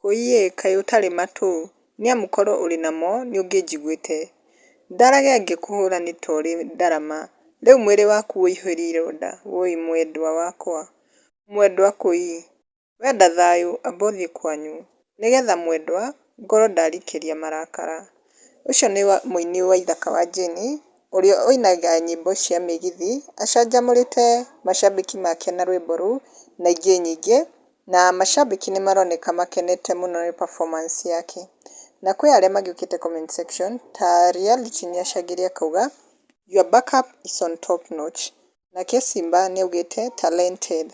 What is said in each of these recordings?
Kũiye, kaĩ ũtarĩ matũ? Nĩ amu korwo ũrĩ namo, nĩ ũngĩnjiguĩte. Ndarage ngĩkũhũũra nĩ ta ũrĩ ndarama, rĩu mwĩrĩ waku ũihũire ironda, wũi mwendwa wakwa. Mwendwa kũi, wenda thayũ, amba ũthiĩ kwanyu. Nĩ getha mwendwa, ngorwo ndarikĩria marakara. Ũcio nĩ mũini wa ithaka wa Jane, ũrĩa ũinaga nyĩmbo cia mĩgithi, acanjamũrĩte macambĩki make na rwĩmbo rũu, na ingĩ nyingĩ, Na macambĩki nĩmaroneka makenete mũno nĩ performance yake. Na kwĩ arĩa magĩũkĩte comment section ta Reality nĩacangĩre akauga Your back up is on top notch. Nake Simba nĩaugĩte Talented.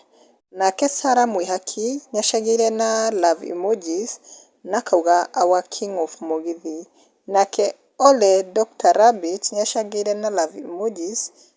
Nake Sarah Mwĩhaki nĩacagĩire na love emojis na akauga Our king of mũgithi. Nake Ole Doctor Rabbit nĩacangĩire na love emojis